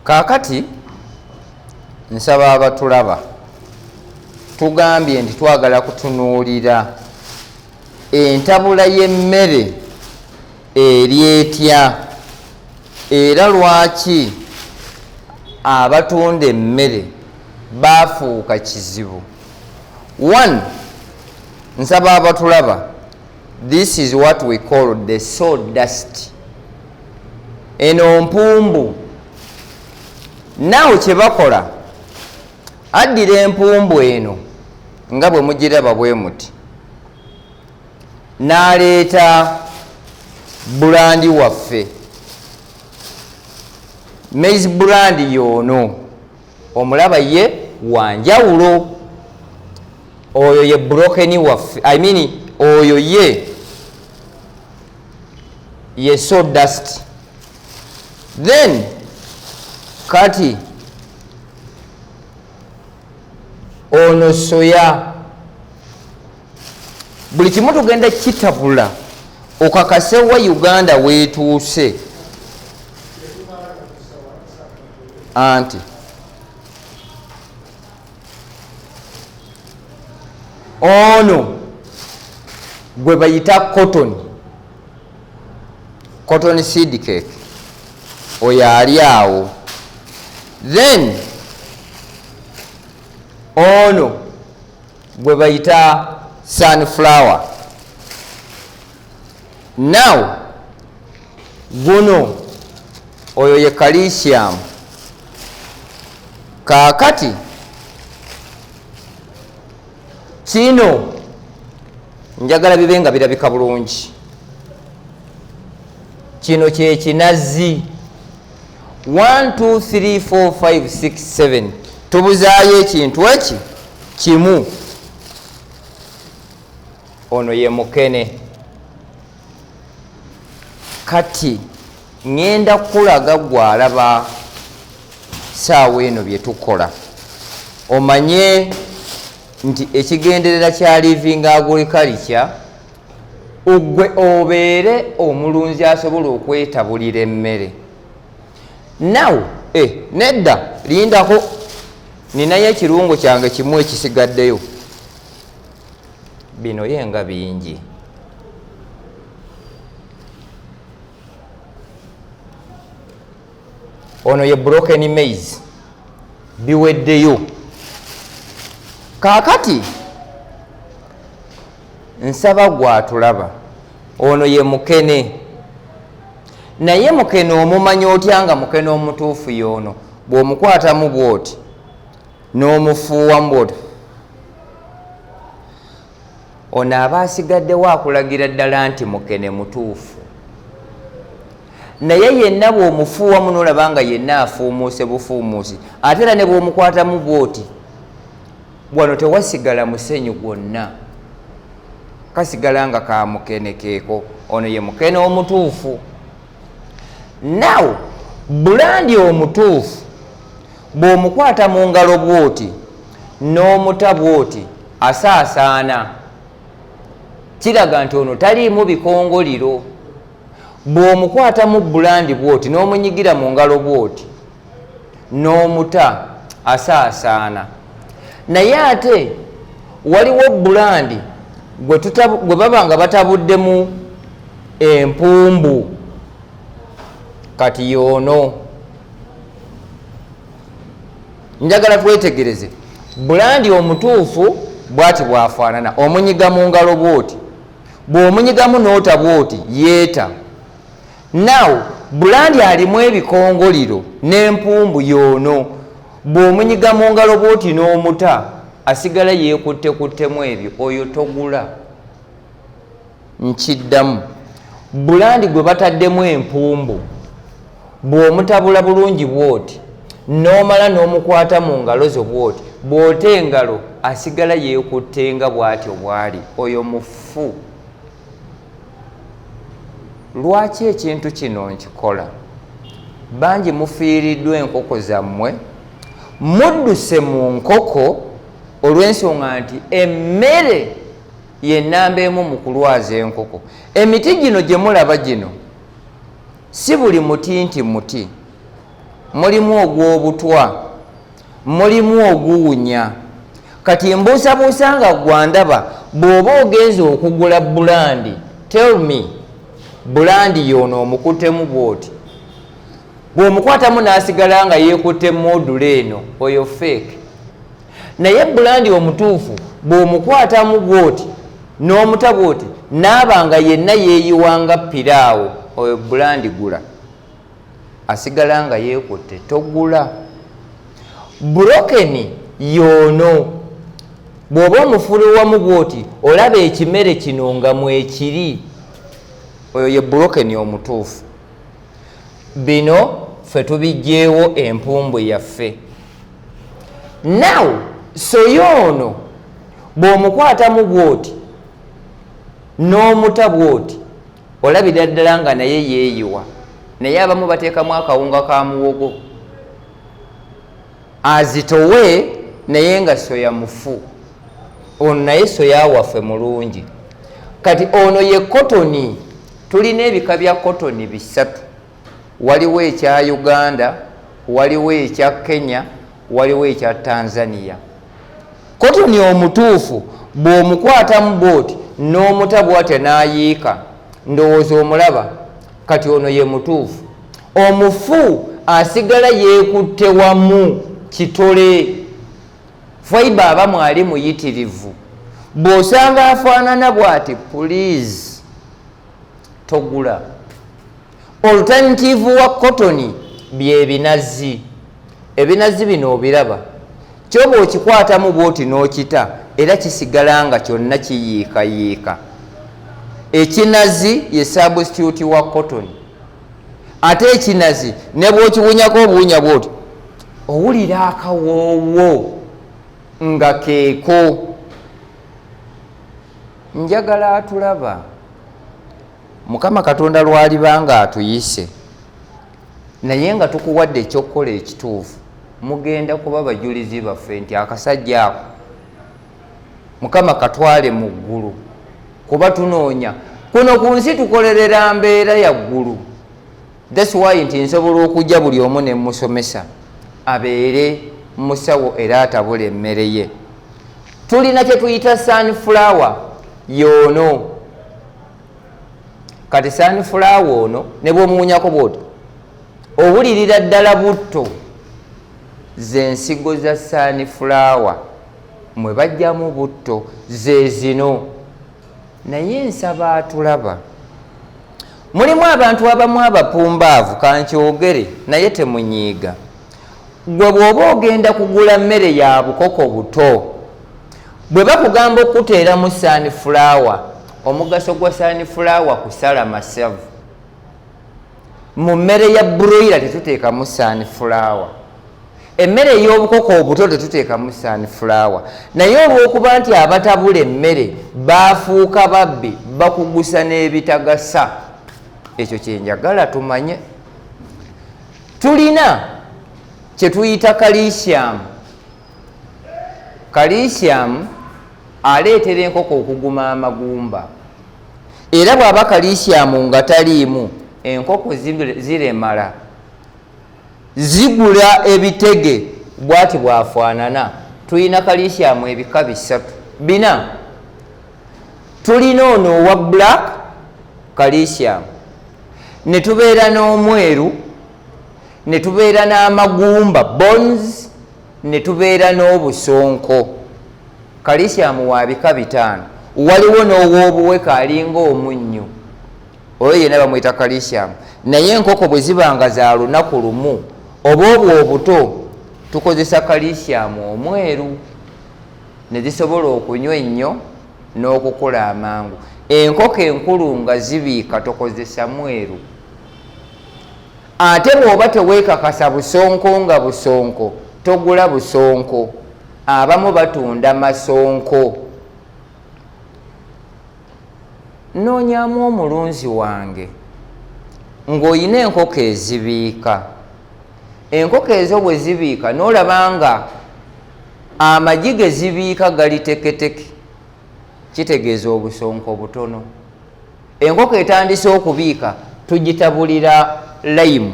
kaakati nsaba abatulaba tugambye nti twagala kutunuulira entabula y'emmere eri etya era lwaki abatunda emmere baafuuka kizibu one nsaba abatulaba This is what we call the soul dust. Eno mpumbu. Now kye bakola addira empumbu eno nga bwe mugiraba bwe muti n'aleeta bulandi waffe maize bulandi yoono omulaba ye wanjawulo oyo ye broken waffe i mean oyo ye ye so dust then kati ono soya buli kimu tugenda kitabula okakasewa uganda wetuuse anti ono gwe bayita cotton cotton seed cake oyo ali awo then ono gwe bayita sunflower now guno oyo ye calcium kakati kino njagala bibe nga birabika bulungi kino kyekinazi 1234567 tubuzaayo ekintu eki kimu ono ye mukene kati ŋŋenda kukulaga gwe alaba saawa eno bye tukola omanye nti ekigenderera kya living agriculture ogwe obeere omulunzi asobola okwetabulira emmere naw e eh, nedda lindako ninayo ekirungo kyange kimu ekisigaddeyo bino ye nga bingi ono ye broken maize biweddeyo kaakati nsaba gwatulaba ono ye mukene naye mukene omumanya otya nga mukene omutuufu yoono bw'omukwatamu bw'oti n'omufuuwa mboto ono aba asigaddewo akulagira ddala nti mukene mutuufu naye yenna bwomufuuwa muno olaba nga yenna afuumuuse bufuumuusi ate era ne bwomukwatamu bwoti wano tewasigala musenyu gwonna kasigala nga ka mukene keeko ono ye mukene omutuufu naw bulandi omutuufu bw'omukwata mu ngalo bw'oti n'omuta bw'oti asaasaana kiraga nti ono taliimu bikongoliro bw'omukwata mu bulandi bw'oti n'omunyigira mu ngalo bw'oti n'omuta asaasaana naye ate waliwo bulandi gwe baba nga batabuddemu empumbu kati yoono njagala twetegereze bulandi omutuufu bwati bwafaanana omunyiga mu ngalo bwoti bw'omunyigamu noota bwoti yeeta naw bulandi alimu ebikongoliro n'empumbu yoono bw'omunyiga mu ngalo bwoti n'omuta asigala yeekutte kuttemu ebyo oyo togula nkiddamu bulandi gwe bataddemu empumbu bw'omutabula bulungi bw'oti n'omala n'omukwata mu ngalo zo bw'oti bw'ota engalo asigala yeekutte nga bw'atyo bw'ali oyo mufu lwaki ekintu kino nkikola bangi mufiiriddwa enkoko zammwe mudduse mu nkoko olw'ensonga nti emmere yenamba emu mu kulwaza enkoko emiti gino gye mulaba gino si buli muti nti muti mulimu ogw'obutwa mulimu oguwunya kati mbuusabuusa nga gwandaba bw'oba ogenza okugula bulandi tell me bulandi yoono omukuttemu bwoti bw'omukwatamu n'asigala nga yeekutte moodula eno oyo feeke naye bulandi omutuufu bw'omukwatamu bwoti n'omuta bwoti naaba nga yenna yeeyiwanga piraawo oyo bulandi gula asigala nga yeekutte togula burokeni yoono bw'oba omufuliwamu bwoti olaba ekimere kino nga mwekiri oyo ye burokeni omutuufu bino ffe tubijjeewo empumbwe yaffe now soyo ono bw'omukwatamu bw'oti n'omuta bw'oti olabira ddala nga naye yeeyiwa naye abamu bateekamu akawunga ka muwogo azitowe naye nga soya mufu ono naye soya waffe mulungi kati ono ye kotoni tulina ebika bya kotoni bisatu waliwo ekya uganda waliwo ekya kenya waliwo ekya tanzania kotoni omutuufu bw'omukwatamu booti n'omutabwatya n'ayiika ndowooza omulaba kati ono ye mutuufu omufu asigala yekutte wamu kitole faiba aba mwali muyitirivu bwosanga afaanana bwati pulizi togula alternative wa kotoni byebinazi ebinazi bino obiraba kyoba okikwatamu bwoti nokita era kisigala nga kyonna kiyiikayiika ekinazi ye substitute wa kotoni ate ekinazi nebwokiwunyako obuwunya bwotyo owulira akawoowo nga keeko njagala atulaba mukama katonda lwaliba nga atuyise naye nga tukuwadde ekyokukola ekituufu mugenda kuba bajulizi baffe nti akasajja ako mukama katwale mu ggulu kuba tunoonya kuno ku nsi tukolerera mbeera ya ggulu thats why nti nsobola okujja buli omu ne musomesa abeere musawo era atabula emmere ye tulina kye tuyita sunflower yoono kati sunflower ono ne bwomuwunyako bwoti owulirira ddala butto zensigo za sunflower mwe bajjamu butto zezino naye nsaba atulaba mulimu abantu abamu abapumbaavu kankyogere naye temunyiiga gwe bwoba ogenda kugula mmere ya bukoko buto bwe bakugamba okukuteeramu saani fulaawa omugaso gwa saani fulaawa kusala masavu mu mmere ya broira tetuteekamu sunflower emmere ey'obukoko obuto tetuteekamu sunflower naye olw'okuba nti abatabula emmere baafuuka babbi bakugusa n'ebitagasa ekyo kyenjagala tumanye tulina kyetuyita kalisiamu kalisiamu aleetera enkoko okuguma amagumba era bwaba kalisyamu nga taliimu enkoko ziremala zigula ebitege bwati bwafaanana tulina kalisyamu ebika bisatu bina tulina ono owa black kalisyamu ne tubeera n'omweru ne tubeera n'amagumba bons ne tubeera n'obusonko kalisyamu wa bika bitaano waliwo n'ow'obuweka alinga omunnyo oyo yena bamwita kalisyamu naye enkoko bwe ziba nga za lunaku lumu oba obwo obuto tukozesa kalisyamu omweru ne zisobola okunywa ennyo n'okukula amangu enkoko enkulu nga zibiika tokozesa mweru ate bwoba tewekakasa busonko nga busonko togula busonko abamu batunda masonko noonyamu omulunzi wange ng'olina enkoko ezibiika enkoko ezo bwe zibiika n'olaba nga amagi ge zibiika gali teketeke kitegeeza obusonko butono enkoko etandise okubiika tugitabulira laimu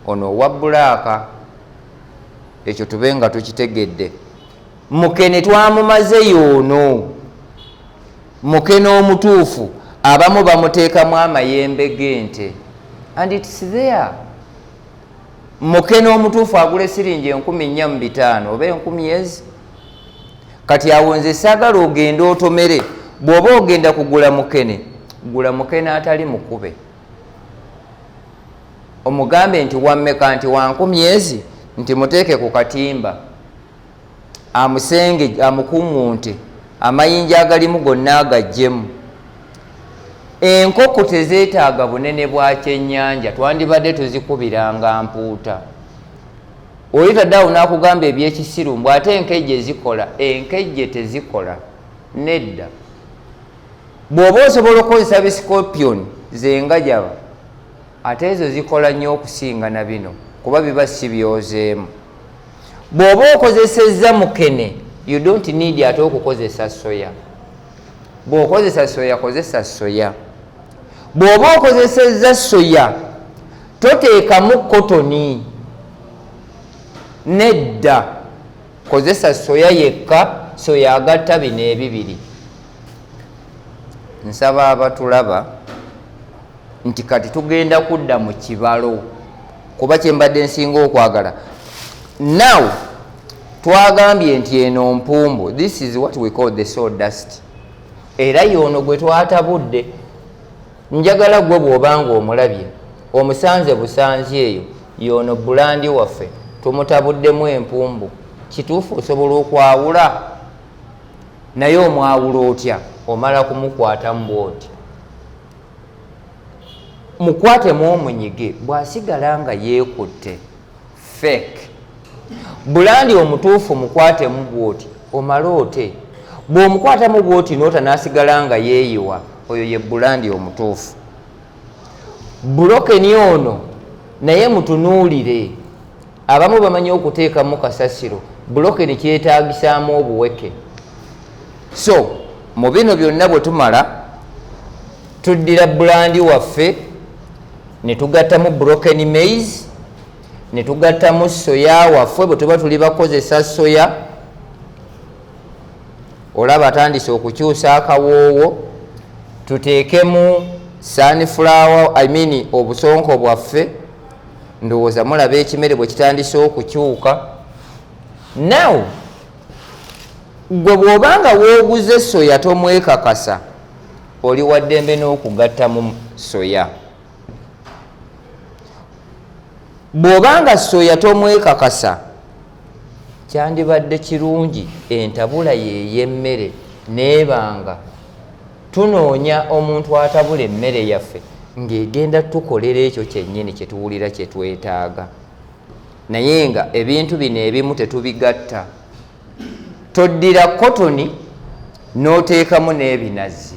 ono owa bulaaka ekyo tube nga tukitegedde mukene twamumaze yoono mukene omutuufu abamu bamuteekamu amayembe g'ente and its there mukene omutuufu agula esiringi enkumi nnya mu bitaano oba enkumi ezi kati awo nze sagala ogende otomere bwoba ogenda kugula mukene gula mukene atali mukube omugambe nti wammeka nti wankumyezi nti muteeke ku katimba amusenge amukuŋŋunte amayinja agalimu gonna agajjemu enkoko tezeetaaga bunene bwa kyennyanja twandibadde tuzikubiranga mpuuta oli tadaawo nakugamba ebyekisiru mbw ate enkejje zikola enkejje tezikola nedda bwoba osobola okukozesa bisikopion zengajaba ate ezo zikola nnyo okusinga na bino kuba biba si byozeemu bwoba okozesezza mukene you don't need ate okukozesa soya bwokozesa soya kozesa soya bwoba okozesezza soya toteekamu kotoni nedda kozesa soya yekka soya agatta bino ebibiri nsaba abatulaba nti kati tugenda kudda mu kibalo kuba kyembadde nsinga okwagala now twagambye nti eno mpumbu this is what we call the soul dust era yoono gwe twatabudde njagala gwe bw'obanga omulabye omusanze busanzi eyo yoono bulandi waffe tumutabuddemu empumbu kituufu osobola okwawula naye omwawula otya omala kumukwatamu bwoti mukwatemu omunyige bw'asigala nga yeekutte fake bulandi omutuufu mukwatemu bwoti omale ote bw'omukwatamu bwoti noota nasigala nga yeeyiwa oyo ye bulandi omutuufu bulokeni ono naye mutunuulire abamu bamanyi okuteekamu kasasiro bulokeni kyetaagisaamu obuweke so mu bino byonna bwe tumala tuddira bulandi waffe ne tugattamu broken maize ne tugattamu soya waffe bwe tuba tuli bakozesa soya olaba atandise okukyusa akawoowo tuteekemu sunflower i mean obusonko bwaffe ndowooza mulaba ekimere bwe kitandise okukyuka now gwe bw'obanga wooguze soya tomwekakasa oli waddembe n'okugattamu soya bw'oba nga soya tomwekakasa kyandibadde kirungi entabula yey'emmere neebanga tunoonya omuntu atabula emmere yaffe ng'egenda tukolera ekyo kyennyini kye tuwulira kye twetaaga naye nga ebintu bino ebimu tetubigatta toddira kotoni n'oteekamu n'ebinazi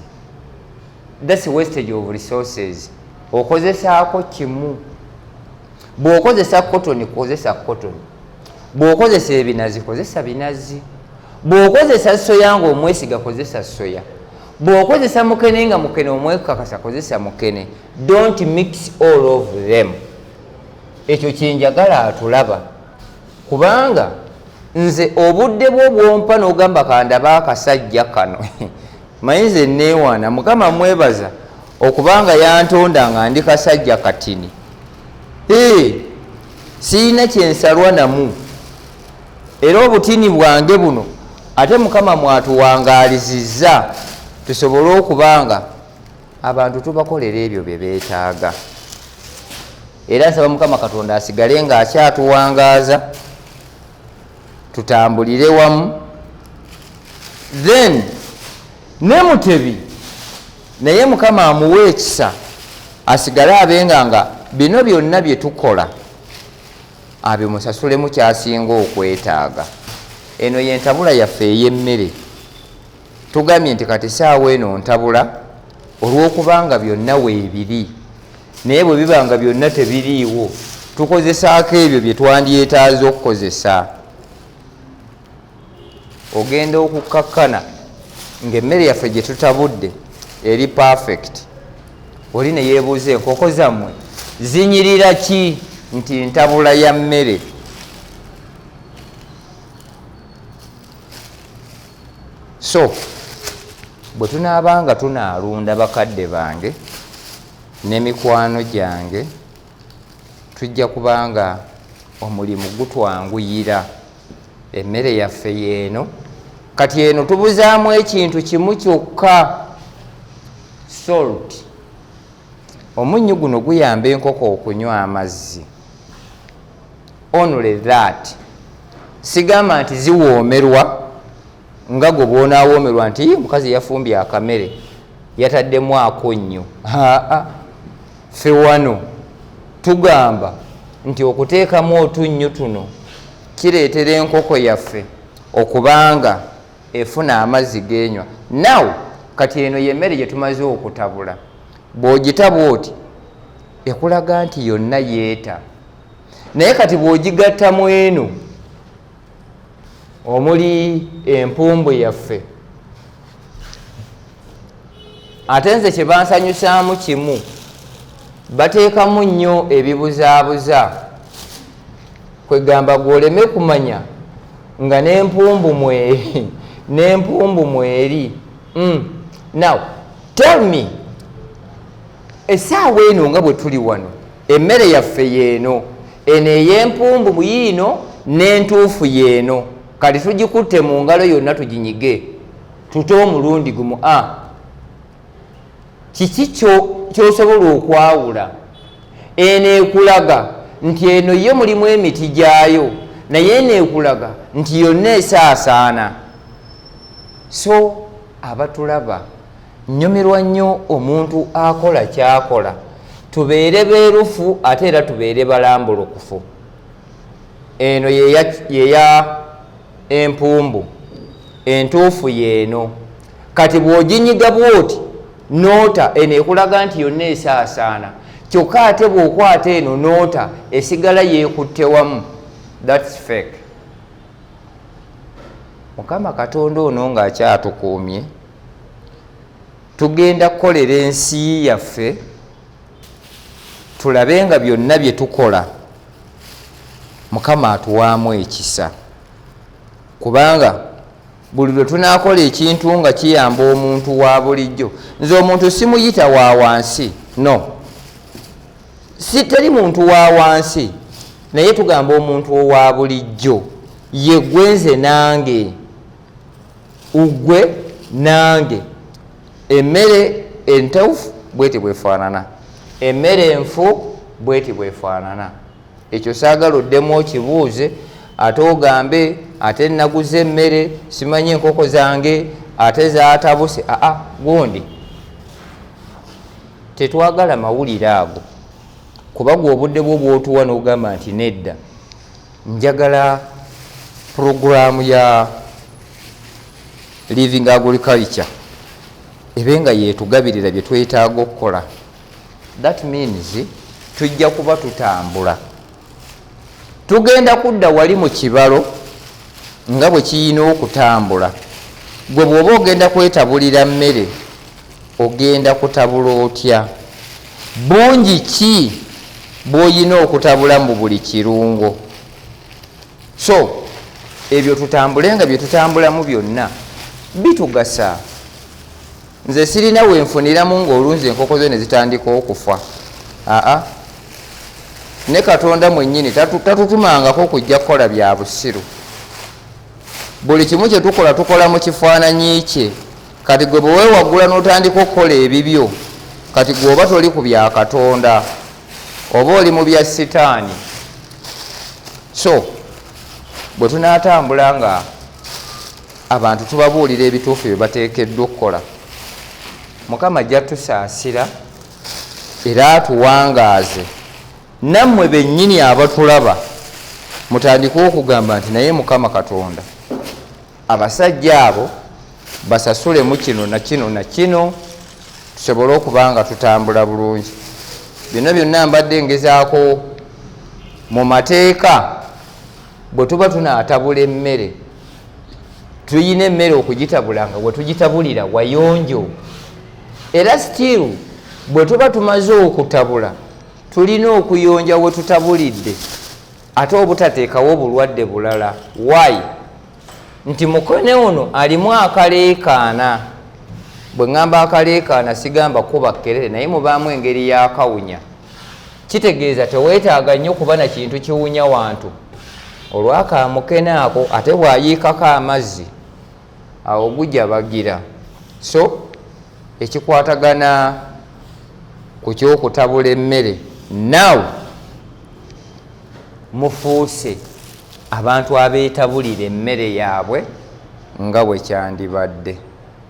thats wastage of resources okozesaako kimu bw'okozesa kotoni kozesa kotoni bw'okozesa ebinazi kozesa binazi bw'okozesa soya nga omwesiga kozesa soya bw'okozesa mukene nga mukene omwekakasa kozesa mukene don't mix all of them ekyo kyenjagala atulaba kubanga nze obudde bwo bwompa nogamba kandaba akasajja kano maye nze newaana mukama mwebaza okubanga yantonda nga ndi kasajja katini ee sirina kyensalwa namu era obutini bwange buno ate mukama mwatuwangaalizizza tusobole okubanga abantu tubakolera ebyo bye beetaaga era nsaba mukama katonda asigale nga akyatuwangaaza tutambulire wamu then ne mutebi naye mukama amuwa ekisa asigale abenga nga bino byonna bye tukola abimusasulemu kyasinga okwetaaga eno yentabula yaffe ey'emmere tugambye nti kati saawa eno ntabula olwokubanga byonna weebiri naye bwe bibanga byonna tebiriiwo tukozesaako ebyo bye twandyetaaza okukozesa ogenda okukkakkana ngaemmere yaffe gye tutabudde eri perfect oli ne yeebuuza enkoko zammwe zinyirira ki nti ntabula ya mmere so bwe tunaaba nga tunaalunda bakadde bange ne mikwano gyange tujja kubanga omulimu gutwanguyira emmere yaffe yeeno kati eno tubuzaamu ekintu kimu kyokka salt omunnyu guno guyamba enkoko okunywa amazzi only that sigamba nti ziwoomerwa nga gwe bwonaawoomerwa nti mukazi yafumbye akamere yataddemu ako nnyo aa fe wano tugamba nti okuteekamu otunnyu tuno kireetera enkoko yaffe okubanga efuna amazzi genywa naw kati eno yemmere gye tumaze okutabula bw'ogitabwa oti ekulaga nti yonna yeeta naye kati bwogigatta mu eno omuli empumbu yaffe ate nze kyebansanyusaamu kimu bateekamu nnyo ebibuzaabuza kwegamba gwoleme kumanya nga nempumbu mweri nempumbu mweri mm. now tell me essaawa eno nga bwe tuli wano emmere yaffe yeeno eno ey'empumbu muyiino n'entuufu yeeno kati tugikutte mu ngalo yonna tuginyige tute omulundi gumu a kiki kyosobola okwawula eno ekulaga nti eno yo mulimu emiti gyayo naye eno ekulaga nti yonna esaasaana so abatulaba nyumirwa nnyo omuntu akola kyakola tubeere beerufu ate era tubeere balambulukufu eno yeya empumbu entuufu yeeno kati bwoginyiga bwoti noota eno ekulaga nti yonna esaasaana kyokka ate bwokwata eno noota esigala yekutte wamu thats fake mukama katonda ono ng'akyatukuumye tugenda kukolera ensi yaffe tulabe nga byonna bye tukola mukama atuwaamu ekisa kubanga buli lwe tunaakola ekintu nga kiyamba omuntu wa bulijjo nze omuntu simuyita wa wansi no si teri muntu wa wansi naye tugamba omuntu owa bulijjo yegwenze nange ugwe nange emmere entawufu bweti bwefaanana emmere enfu bweti bwefaanana ekyo saagala oddemu okibuuze ate ogambe ate naguze emmere simanyi enkoko zange ate zatabuse aa gundi tetwagala mawulire ago kuba gwe obudde bwo bwotuwa nogamba nti nedda njagala puroguraamu ya living agriculture ebe nga yetugabirira bye twetaaga okukola that means tujja kuba tutambula tugenda kudda wali mu kibalo nga bwe kiyina okutambula gwe bwoba ogenda kwetabulira mmere Ogenda kutabula otya? Bungi ki bwoyina okutabula mbu buli kirungo? So ebyo tutambule nga byetutambulamu byonna bitugasa. Nze sirina wenfuniramu nga olunzi enkoko zo nezitandika okufa aa ne katonda mwenyini tatutumangako kujja kukola bya busiru. Buli kimu kyetukola tukola mu kifaananyi kye. kati gwe bwewewaggula n'otandika okukola ebibyo kati gwe oba toli ku bya katonda oba oli mu bya sitaani so bwe tunaatambula nga abantu tubabuulira ebituufu bye bateekeddwa okukola mukama ajja tusaasira era atuwangaaze nammwe bennyini abatulaba mutandike okugamba nti naye mukama katonda abasajja abo basasulemu kino nakino nakino tusobole okuba nga tutambula bulungi byonna byonna mbadde ngezaako mu mateeka bwe tuba tunaatabula emmere tulina emmere okugitabula nga bwe tugitabulira wayonjo era stiru bwe tuba tumaze okutabula tulina okuyonja we tutabulidde ate obutateekawo obulwadde bulala wayi nti mukone ono alimu akaleekaana bwe ŋŋamba akaleekaana sigamba kuba kkerere naye mubaamu engeri yakawunya kitegeeza teweetaaga nnyo kuba na kintu kiwunya wantu olwakaamukene ako ate bwayiikako amazzi awo gujabagira so ekikwatagana ku kyokutabula emmere now mufuuse abantu abeetabulira emmere yaabwe nga bwe kyandibadde